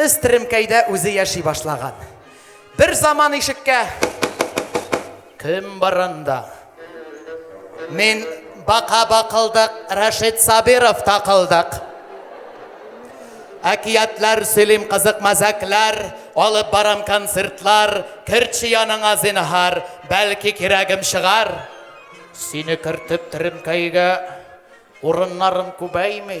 Өс теремкәйдә үзе яши башлаган. Бер заман ишеккә Кем бар анда? Мин бака бакылдык, Рәшит Сабиров такылдык. Әкиятләр сөйлим кызык мәзәкләр, алып барам концертлар, керче яныңа зинһар, бәлки кирәгем чыгар. Сине кертеп теремкәйгә урыннарым күбәйми.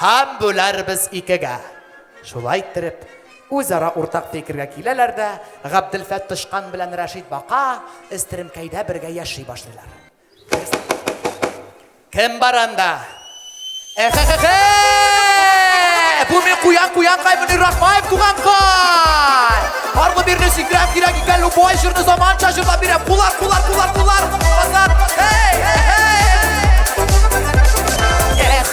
Һәм бүләрбез икегә. Шулай иттереп, үзара уртак фикергә киләләр дә, Габделфәт тычкан белән Рәшит бака эстеремкәйдә бергә яши башлыйлар. Кем бар анда? Эхехехе! Бу мин куян куян каймыни Рахмаев туган кай! Аргы бирне сикрәп кирәк икән, любой җырны заманча җырлап бирә. Кулар, кулар, кулар, кулар! Азат! Эй, эй, эй! Эх,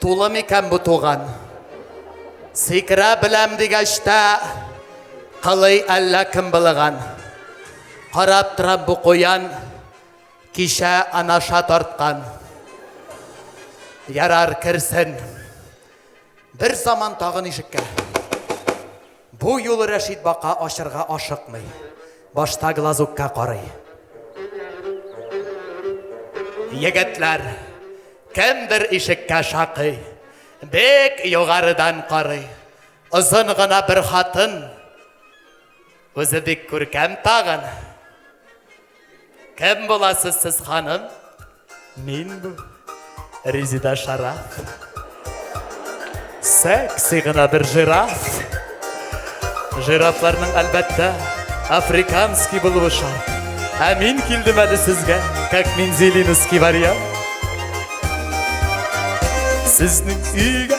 Тулы микән бу туган? Сикерә беләм дигәч тә, кылый әллә кем былыган. Карап торам бу куян, кичә анаша тарткан. Ярар керсен. Бер заман тагын ишеккә. Бу юлы Рәшит бака ачырга ашыкмый. Башта глазукка карый. Егетләр, кемдер ишеккә шакый. Бек югарыдан карый. Озын гына бер хатын. Үзе бик күркәм тагын. Кем буласыз сез, ханым? Мин бу Резида Шараф. Секси гына бер жираф. Жирафларның әлбәттә африканский булуы шарт. Ә мин килдем әле сезгә, как мензелинский вариант. Сезнең өйгә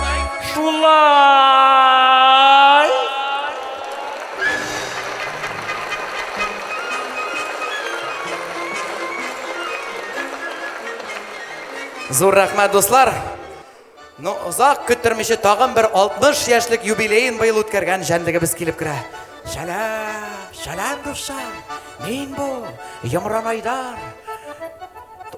Шулай! Зур рәхмәт, дуслар! Ну, озак көттермичә тагын бер 60 яшьлек юбилеен быел үткәргән җәнлегебез килеп керә. Шәләм, шәләм дуслар, мин бу, Йомран Айдар.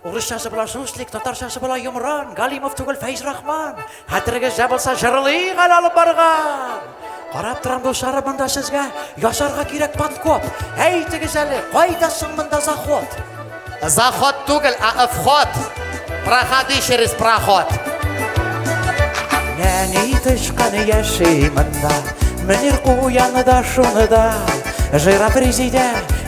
Урысчасы була шушлик, татарчасы була йомран, Галимов түгел Фәйз Рахман. Хәтерегездә булса җырлыйк әле алып барган. Карап торам дуслары монда сезгә ясарга кирәк подкоп. Әйтегез әле, кайда соң монда заход? Заход түгел, а вход. Проходи через проход. Нәни тычкан яши монда, Мөнир куяны да шуны да. Жыра президент,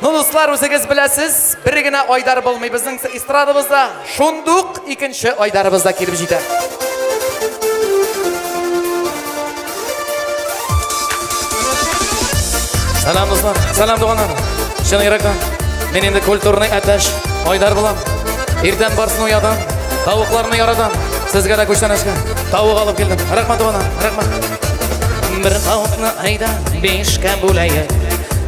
Ну дуслар, үзегез беләсез, бер генә Айдар булмый безнең эстрадабызда, шундук икенче Айдарыбыз да килеп җитә. Сәлам дуслар, сәлам туганнар. Чын йөрәктән мин инде культурный әтәш Айдар булам. Иртән барсын уядам, тавыкларны яратам. Сезгә дә күчтәнәшкә тавык алып килдем. Рәхмәт туганнар, рәхмәт. Бер тавыкны айда бишкә бүләе.